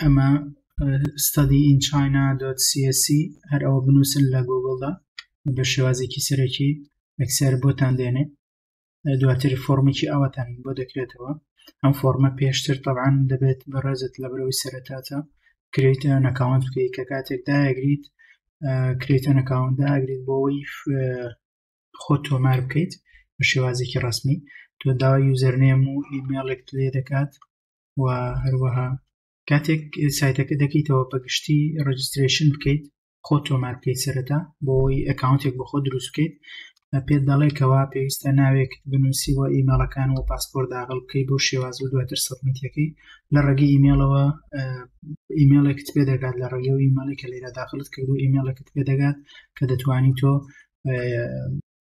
ئەمە ستادی ئین چاینا دۆت سیسی هەر ئەوە بنووسن لە گۆگڵدا بە شێوازێکی سەرەکی ئەکسەر بۆتان دێنێ دواتر فۆرمێکی ئەوەتان بۆ دەکرێتەوە ئەم فۆرمە پێشتر تەعاان دەبێت بەڕێزت لە برەوەی سەرەتاتە کرێتە نەکاوان بکەیت کە کاتێک داگریت کرێتە نەکاوان داگریت بۆەوەی خۆ تۆمار بکەیت بە شێوازێکی ڕسمی تۆ داوای یوزەرنێم و ئیمێڵێک لێ دەکات و هەروەها کاتێک سایتەکە دەکەیتەوە بەگشتی ڕجسترێشن بکەیت خۆ تۆمار بکەیت سەرەتا بۆی ئەکاونتێک بە خۆ دروست بکەیت پێت دەڵێکەوە پێویستە ناوێک بنووسیوە ئیمەڵەکان و پاسپۆر داغڵ بکەی بۆ شێواز و دواتر سەبمیتەکەی لە ڕێگەی ئیمێڵەوە ئیمێڵێکت پێ دەگات لە ڕێگە و ئیمەڵی کە لێرە داخلت کرد و ئیمێڵێکت پێ دەگات کە دەتوانی تۆ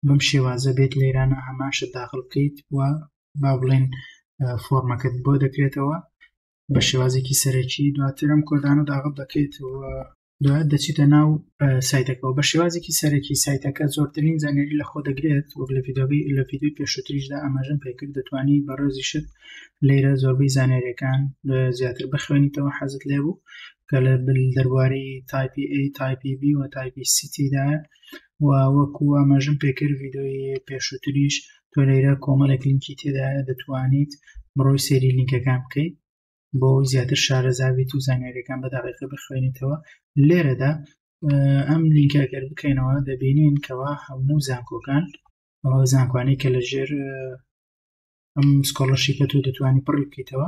بەم شێوازە بێت لێرانە هەمان شت داخل بکەیت و با بڵێن فۆرمەکەت بۆ دەکرێتەوە بە شێوازێکی سەرەکی دواترم کۆدانە داغڵ دەکەیت و دوات دەچیتە ناو سایتەکەەوە بە شێوازێکی سەرەکی سایتەکە زۆرترین زانێری لە خۆ دەگرێت وەک لە فیدۆگەی لە فیدۆی پێشوتریشدا ئاماژم پێکرد دەتوانی بەڕێزی شت لێرە زۆربەی زانێرەکان زیاتر بخوێنیتەوە حەزت لێبوو کە لە بل دەربارەی تایپی A تایپی B و تایپی سیتیدا و وەکو ئاماژم پێکرد ڤیدۆی پێشووتریش تۆ لەیرە کۆمەڵێک لینکی تێدایە دەتوانیت بڕۆی سێری لینکەکان بکەیت بۆ ئەوی زیاتر شارەزابیت و زانیارەکان بە دەقیقە بخوێنیتەوە لێرەدا ئەم لینکەگەر بکەینەوە دەبینین کەوا هەموو زانکۆکان زانکوانی کە لە ژێر ئەم سکۆڵەرشیپە تۆ دەتوانانی پڕی بکەیتەوە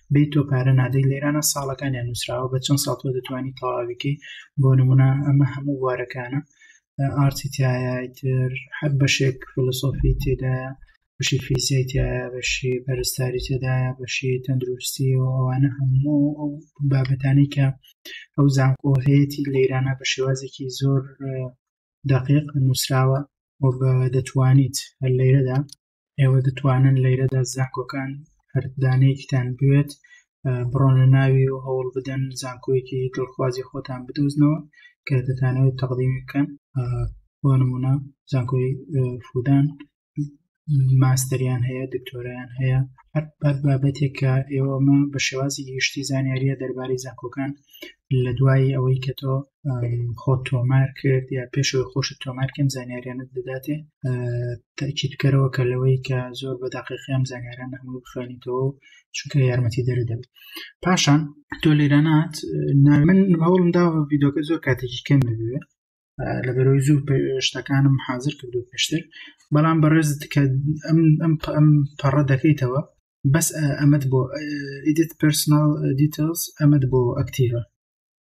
بی تۆ پارە نادەی لێرانە ساڵەکانیان نووسراوە بە چەند ساڵ تۆ دەتوانانی تەواویکەی بۆ نمونە ئەمە هەموو بوارەکانە ئارتی تایتر هەر بەشێک فلسۆفی تێدا بەشی فیزیای تایە بەشی پەرستاری تێدایە بەشی تەندروستی و ئەوانە هەموو ئەو بابەتانی کە ئەو زانکۆ هەیەی لەیرانە بە شێوازێکی زۆر دقیق نووسراوە و بە دەتوانیت هەر لەیرەدا ئێوە دەتوانن لەیرەدا زانکۆکان هەر دانەیەکتان بوێت بڕۆنە ناوی و هەوڵ بدەن زانکۆیەکی دڵخوازی خۆتان بدۆزنەوە کە دەتانەوەی تەقدیمی بکەن بۆ نمونە زانکۆی فودان ماستەریان هەیە دکتۆریان هەیە هەر بەر بابەتێک کە ئێوەمە بە شێوازی گشتی زانیاریە دەربارەی زانکۆکان لە دوایی ئەوەی کە تۆ خۆ تۆمار کرد یا پێشەوەی خۆش تۆمار کەم زانیاریانت دەداتێ تاکیت بکەرەوە کە لەوەی کە زۆر بە داقیقیان زانیاران هەموو بخوێنیتەوە و چونکە یارمەتی دەرە دەبێت پاشان تۆ لێرانات من هەوڵم داوە یددیوکە زۆر کاتێکی کەم ببێت لە بەرەوەی زوو شتەکانم حاضر کردو پێشتر بەڵام بەڕێز کە ئەم پەڕە دەکەیتەوە بەس ئەمەد بۆ ئیدت پرسنال دیتەلز ئەمەد بۆ ئەکتیڤە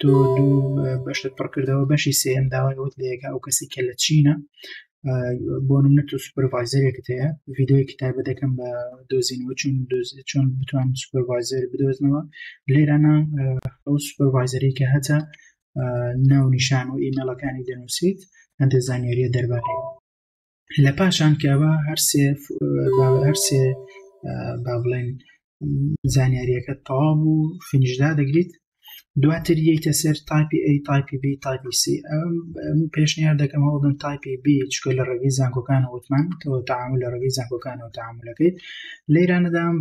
تۆ دوو بەشت پڕکردەوە بەشی سێم داوایەوەت لەیەکە ئەو کەسی کە لە چینە بۆ منە تۆ سوپەرڤایزەرێکت هەیە ڤیددیوی کتابە دەکەم بە دۆزینەوە چون چۆن بتوان سوپەرڤایزەر بدۆزنەوە لێرانە ئەو سوپەرڤایزەری کە هەتا ناو نیشان و ئیمەلەکانی دەنووسیت هەندێک زانیاریە دەربارەیە لە پاشان کە ئەوە هەرسێ هەرسێ با بڵێن زانیاریەکە تەواو و فینیشدا دەگریت دواتر یەیتە سەر تایپی ئەی تایپی بی تایپی سی ئەم پێشنیار دەکەم هەوڵدن تایپی بی چکە لە ڕێگەی زانکۆکان وتمان تۆ تاعامل لە ڕێگەی زانکۆکانەوە تاعاملەکەیت لەیرانەدام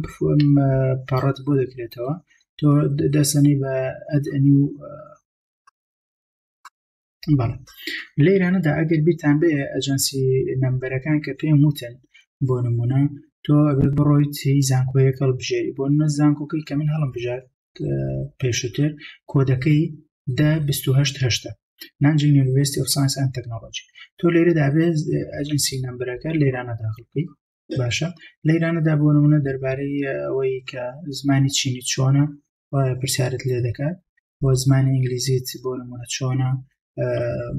پەڕەت بۆ دەکرێتەوە تۆ دەسەنی بە ئەدنی و بەڵێ لەیرانەدا ئەگەر بیرتان بێ ئەجەنسی نەمبەرەکان کە پێم وتن بۆ نمونە تۆ ئەبێ بڕۆیت زانکۆیەک هەڵبژێری بۆ نە زانکۆکەی کە من هەڵم بژات پێشتر کۆدەکەی دا 1970 نانجی یونیڤرسیتی ئۆف ساینس ئەند تەکنۆلۆژی تۆ لێرە دابێ ئەجنسی نمبرەکە لێرانە داخل بکەیت باشە لەیرانەدا بۆ نمونە دەربارەی ئەوەی کە زمانی چینی چۆنە وایە پرسیارت لێ دەکات و زمانی ئینگلیزیت بۆ نمونە چۆنە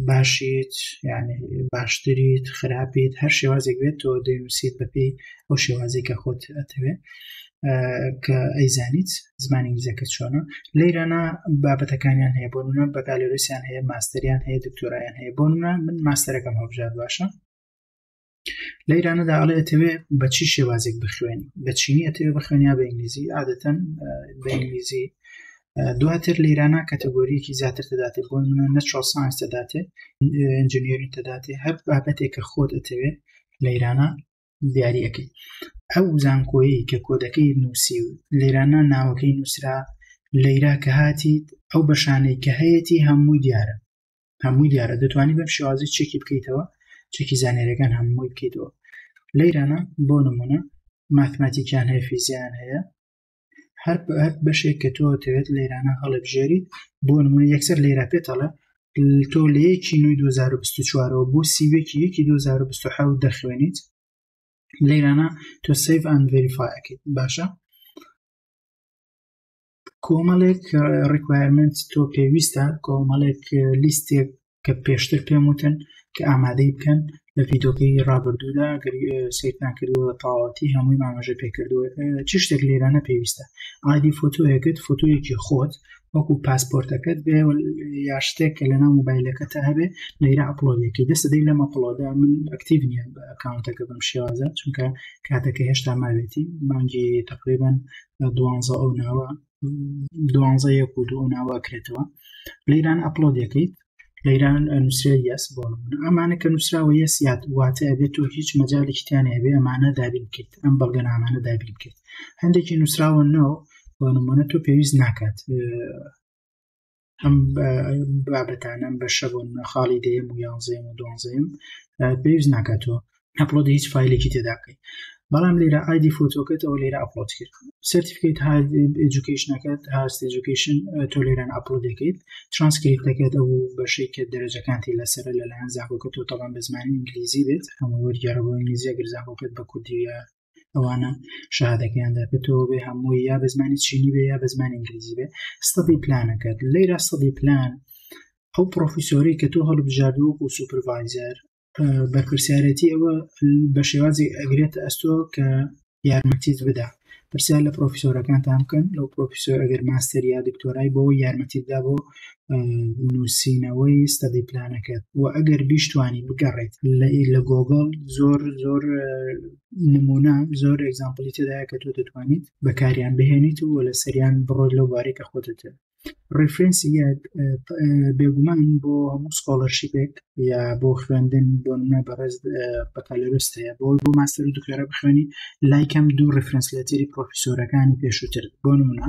باشیت یعنی باشتریت خراپیت هەر شێوازێک بێت تۆ دەنووسیت بەپی ئەو شێوازی کە خۆت ئەتەوێت کە ئەیزانیت زمانی ئینگلیزەکە چۆنە لە ئیرانە بابەتەکانیان هەیە بۆنە بەکالۆریسیان هەیە ماستریان هەیە دکتۆرایان هەیە بۆنە من ماستەرەکەم هەبژار باشە لە ئیرانەدا ئەڵێ ئەتەوێ بە چی شێوازێک بخوێنی بە چینی ئەتەوێ بخوێنیا بە ئینگلیزی عادەتەن بە ئینگلیزی دواتر لە ئیرانە کەتەگۆریەکی زیاتر تداتێ بۆ منە نەچۆ سانس دەداتێ ئەنجنیری تداتێ هەر بابەتێک کە خۆت ئەتەوێ لە ئیرانە دیارەکەی ئەو زانکۆیی کە کۆدەکەی نووسی و لێرانە ناوەکەی نووسرا لەیرا کە هاتیت ئەو بەشانەی کە هەیەی هەمووی دیارە هەمووی دیارە دەتوانانی بەم شێوازی چێکی بکەیتەوە چێکی زانێرەکان هەمووی بکەیتەوە لە ایرانە بۆ نمونە ماتماتیکیان هەیە فیزیان هەیە هەر بەشێک کە تۆ دەوێت لە ایرانە هەڵبژێری بۆ نمونە یەکسەر لێرا پێتەڵە تۆ لە یەکی نوی 2024ەوە بۆ سیوێکی یەکی 2020 دەخوێنیت لە ایرانە تۆ سیف ئەند ڤریفاکەیت باشە کۆمەڵێک ڕکوایرمنت تۆ پێویستە کۆمەڵێک لیستێک کە پێشتر پێم وتن کە ئامادەی بکەن لە ڤیدۆکەی ڕابردوودا گەری سیرتان کردووە تاواتی هەمووی مامەژە پێکردووە چ شتێک لێرانە پێویستە ئادی فۆتۆیەکەت فۆتۆیەکی خۆت وەکو پاسپۆرتەکەت بێ یا شتێک کە لەناو موبایلەکە تا هەبێ لەیرا ئەپلۆدێکی دەستە دەی لەمە پڵۆدا من ئەکتیڤ نیە ئەکاونتەکە بم شێوازە چونکە کاتەکە هێشتا ماوێتی مانگی تقریبان دوانزە ئەو ناوە دوانزە یەک و دوو ناوە کرێتەوە لە ئیران ئەپلۆ دەکەیت لە ئیران نووسرا یاس بۆ ئەمانە کە نووسراوە یە سیات واتە ئەبێت و هیچ مەجاالێکیان هەبێ ئەمانە دابین کرد ئەم بەڵگەنامانە دابین کرد هەندێکی نووسراوە ناو بۆ نمونە تۆ پێویست ناکات ئەم بابەتانەم بەشە بوون خاڵی دەیەم و یانزەیەم و دوانزەیەم پێویست ناکاتەوە ئەپلۆد هیچ فیلێکی تێداکەی بەڵام لێرە ئایدی فۆتۆکەتەوە لێرە ئەپلۆد کرد سرتیفکیت ئەجوکیشنەکەت هاست ئەجوکیشن تۆ لێران ئەپلۆد دەکەیت ترانسکریت دەکەێت ئەو بەشەی کە دەرەجەکانتی لەسەر لەلایەن زاکۆکە تۆ تەڵام بە زمانی ئینگلیزی بێت هەموو وەرگێڕەوە ئینگلیزیە گەر زاکۆکەت بە کوردیە ئەوانە شادەکەیان دەرکەتەوە بێ هەمووی یا بە زمانی چینی بێ یا بە زمانی ئینگلیزی بێ ستەدی پلانەکەت لەیرا سەدی پلان ئەو پرۆفیسۆری کە تۆ هەڵبژاردووەک و سوپرڤایزەر بەرپرسیارەتی ئەوە بە شێوازی ئەگرێت ئەستۆ کە یارمەتیت بدا پرسیار لە پرۆفیسۆرەکانتان بکەن لەو پرۆفیسۆر ئەگەر ماستەر یا دکتۆرای بۆ یارمەتی بدا بۆ نووسینەوەی ستەدی پلانەکەت و ئەگەر بیشتوانی بگەڕێت لە گۆگڵ زۆر زۆر نمونە زۆر ئەگزامپلی تێدایە کە تۆ دەتوانیت بەکاریان بهێنیت و لە سەریان بڕۆی لەو بارێک کە خۆتت ڕفرەنسی یەک بێگومان بۆ هەموو سکۆڵەرشیپێک یا بۆ خوێندن بۆ منە بەڕێز بەکالۆرس هەیە بۆی بۆ ماستەر و دکتۆرە بخوێنی لایکەم دوو ڕفرەنس لەتەری پرۆفیسۆرەکانی پێشووتر بۆ نمونە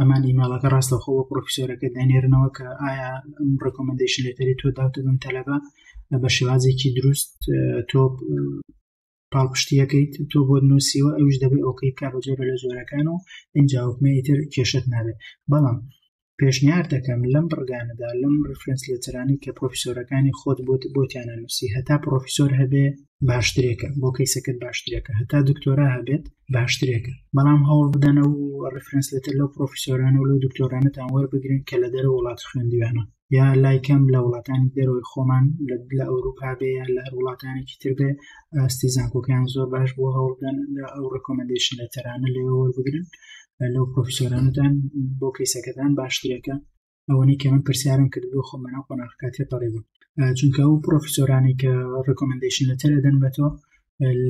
ئەمان ئیماڵەکە ڕاستەخۆ بۆ پرۆفیسۆرەکە دەنێرنەوە کە ئایا ڕکۆمەندیشن لێتەری تۆ داوتە بم تەلەبە بە شێوازێکی دروست تۆ پاڵپشتیەکەیت تۆ بۆ نووسیوە ئەوش دەبێت ئۆکەی بکە بە جۆرە لە جۆرەکان و ئەنجاوکمەی تر کێشت نابێت بەڵام پێشنیار دەکەم لەم بڕگانەدا لەم ڕفرنس لێترانی کە پرۆفیسۆرەکانی خۆت بۆت بۆتیانە نووسی هەتا پرۆفیسۆر هەبێ باشترێکە بۆ کەیسەکەت باشترێکە هەتا دکتۆرا هەبێت باشترێکە بەڵام هەوڵ بدەنە و ڕفرنس لەتر لەو پرۆفیسۆرانە و لەو دکتۆرانەتان وەربگرن کە لە دەرە وڵات خوێندویانە یا لایکەم لە وڵاتانی دەرەوەی خۆمان لە ئەوروپا بێ یا لە هەر وڵاتانێکی تر بێ ئاستی زانکۆکەیان زۆر باش بۆ هەوڵدان لە ئەو ڕکۆمەندیشن لە تەرانە لێ وەربگرن لەو پرۆفیسۆرانتان بۆ کەیسەکەتان باشترێکە ئەوەنەی کە من پرسیارم کرد بۆ خۆم بەناو قۆناغەکە تێپەڕێ بوو چونکە ئەو پرۆفیسۆرانی کە ڕکۆمندیشن لە تەرە دەن بە تۆ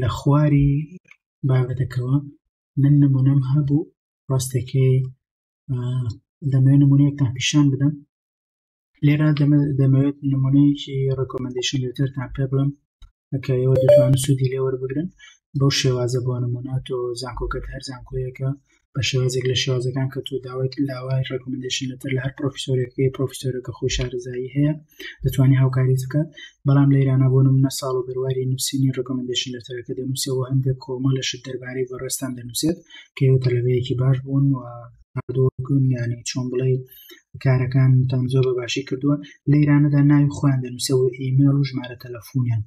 لە خواری بابەتەکەەوە من نمونەم هەبوو ڕاستەکەی دەمێ نمونەیەکتان پیشان بدەم لێرا دەمەوێت نمونەیەکی ڕکۆمندیشن لێتەرتان پێ بڵم کە ئێوە دەتوانن سوودی لێ وەربگرن بەو شێوازە بۆ نمونە تۆ زانکۆکەت هەر زانکۆیەکە بە شێوازێک لە شێوازەکان کە تۆ داوایت لاوای ڕێکمندشن لەتر لە هەر پرۆفیسۆرێکی پرۆفیسۆرەکە خۆی شارزایی هەیە دەتوانانی هاوکاری بکات بەڵام لە ئێرانە بۆ نمونە ساڵ و بەرواری نووسینی ڕێکمندشن لەترەکە دەنووسەوە هەندێک کۆمە لە شت دەربارەی بەڕێستان دەنووسێت کە ئێوە تەلەبەیەکی باش بوون و هەردووکن ینی چۆن بڵێ کارەکانتان زۆر بە باشی کردووە لە ئێرانەدا ناوی خۆیان دەنووسە و ئیمێل و ژمارە تەلەفۆنیان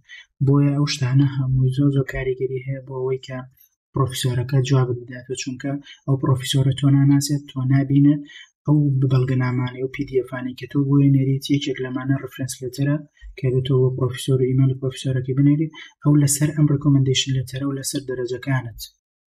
بۆیە ئەو شتانە هەمووی زۆر زۆر کاریگەری هەیە بۆ ئەوەی کە پرۆفیسۆرەکە جواب بداتەوە چونکە ئەو پرۆفیسۆرە تۆ ناناسێت تۆ نبینێت ئەو بەڵگەنامانە و پیدیفانەی کە تۆ بۆیە نێریت یەکێک لەمانە ڕفرنس لەتەرە کە بێتەوە بۆ پرۆفیسۆر و ئیمەل پرۆفیسۆرەکە بنێریت ئەو لەسەر ئەم ڕکۆمەندیشن لەتەرە و لەسەر دەرەجەکانت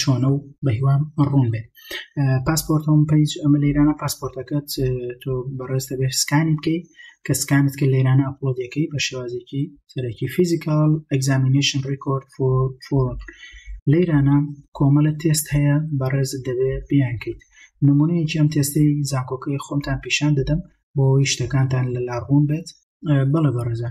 چۆنە و بەهیوام ڕوون بێت پاسپۆرتەوەم پیج ئەمە لەیرانە پاسپۆرتەکەت تۆ بەڕێستە بێ سکانی بکەیت کە سکانت کە لەیرانە ئەپلۆدەکەی بە شێوازێکی سەرەکی فیزیکال ئەگزامینشن ڕیکۆرد فۆرم لەیرانە کۆمەلە تێست هەیە بەڕێزت دەبێ بیانکەیت نمونەیەکی ئەم تێستەی زانکۆکەی خۆمتان پیشان دەدەم بۆ ئەوی شتەکانتان لە لاڕوون بێت بەڵێ بەڕێزە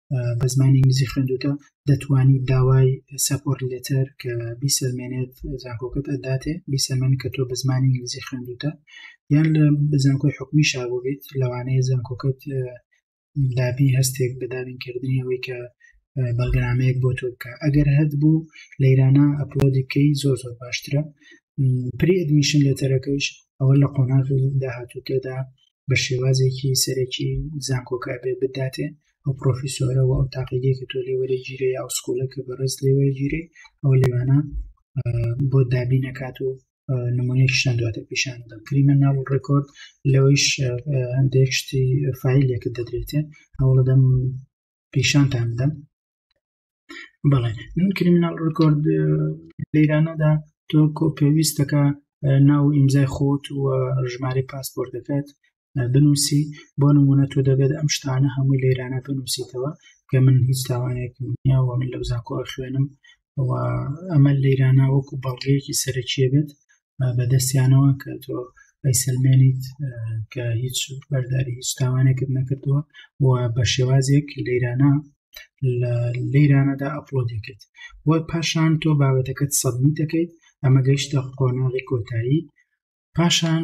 بە زمانی ئینگلیزی خوێندوتە دەتوانی داوای سەپۆر لێتەر کە بیسەلمێنێت زانکۆکەت ئەداتێ بیسەلمێن کە تۆ بە زمانی ئینگلیزی خوێندوتە یان لە بزانکۆی حکومی شابێت لەوانەیە زانکۆکەت دابی هەستێک بە دابینکردنی ئەوەی کە بەڵگەنامەیەک بۆ تۆ بکە ئەگەر هەت بوو لە ایرانە ئەپلۆدی بکەی زۆر زۆر باشترە پری ئەدمیشن لێتەرەکەیش ئەوە لە قۆناغی داهاتوو تێدا بە شێوازێکی سەرەکی زانکۆکە بێ بداتێ ئەو پرۆفیسۆرە و ئەو تاقیگەی کە تۆ لێ وەرە گیرە یا و سکوڵە کە بەڕێز لێ وەرە گیرێ ئەو لێوانە بۆ دابی نەکات و نمونەیەک شتان دواتە پیشان دەم کریمە ناو ڕێکۆرد لەوەیش هەندێک شتی فیلێکت دەدرێتێ هەوڵدەم پیشانتان بدەم بەڵێ من کریمناڵ ڕکۆرد لەیرانەدا تۆ کۆ پێویستەکە ناو ئیمزای خۆت و ژمارە پاسپۆرتەکەت بنووسی بۆ نمونە تۆ دەبێت ئەم شتانە هەمووی لەیرانە بنووسیتەوە کە من هیچ تاوانێکم نیاوە من لەو زانکۆ خوێنم ئەمە لەیرانە وەکو بەڵگەیەکی سەرەکیە بێت بەدەستیانەوە کە تۆ ئەیسەلمێنیت کە هیچ بەرداری هیچ تاوانێکت نەکردووە و بە شێوازێک لەیرانە لە لەیرانەدا ئەپلۆدی کرد و پاشان تۆ بابەتەکەت سەبمی دەکەیت ئەمە گەیشتە قۆناغی کۆتایی پاشان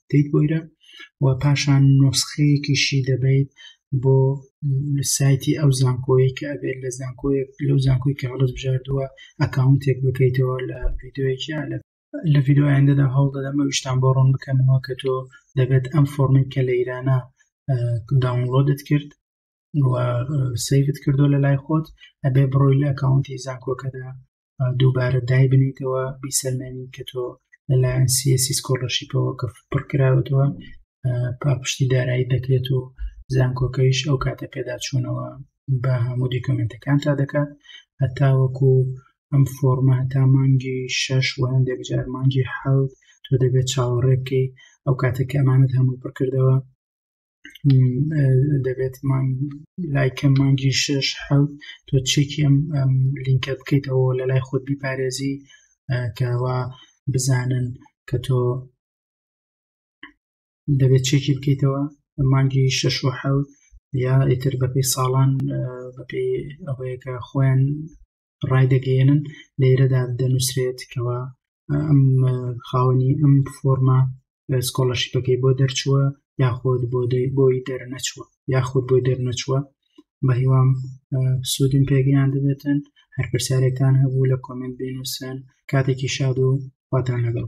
دەیت بۆیرە و پاشان نۆسخەیەکیشی دەبیت بۆ سایتی ئەو زانکۆیە کە ئەبێت لە زانکۆیەک لەو زانکۆی کە هەڵس بژاردووە ئەکاونتێک بکەیتەوە لە ڤیددیوەیەکیا لە لە ڤیددیویاندەدا هەوڵ دەدەمە ویشتان بۆ ڕوون بکەنەوە کە تۆ دەبێت ئەم فۆرمێک کە لە ئیرانە داونلۆدت کرد سیفت کردو لە لای خۆت ئەبێ بڕۆی لە ئەکاونتی زانکۆکەدا دووبارە دایبنیتەوە بیسەلمێنین کە تۆ لەلایەن سیسی سکۆلەرشیپەوە کە پڕ کراوەتەوە پاپشتی دارایی دەکرێت و زانکۆکەیش ئەو کاتە پێداچوونەوە بە هەموو دیکۆمنتەکان تا دەکات هەتاوەکو ئەم فۆرمە هەتا مانگی شەش و هەندێک جار مانگی حەوت تۆ دەبێت چاوەڕێ بکەیت ئەو کاتێک ئەمانت هەموو پڕکردەوە دەبێت لایکەم مانگی شش حوت تۆ چێکی ئەم لینکە بکەیتەوە لە لای خۆت بیپارێزی کەوا بزانن کە تۆ دەبێت چێکی بکەیتەوە مانگی شش و حوت یا ئیتر بەپی ساڵان بەپی ئەوەیەکە خۆیان ڕایدەگەیەنن لێرەدا دەنووسرێت کەەوە ئەم خاوەنی ئەم فۆرمە سکۆڵەشیپەکەی بۆ دەرچووە یاخود بۆ بۆی دەرنەچووە یاخود بۆی دەرنەچووە بە هیوام سوودم پێگەیان دەبێتن هەر پرسیارێکتان هەبوو لە کۆمنت بینوسن کاتێکی شاد و خواتان لەگەڵ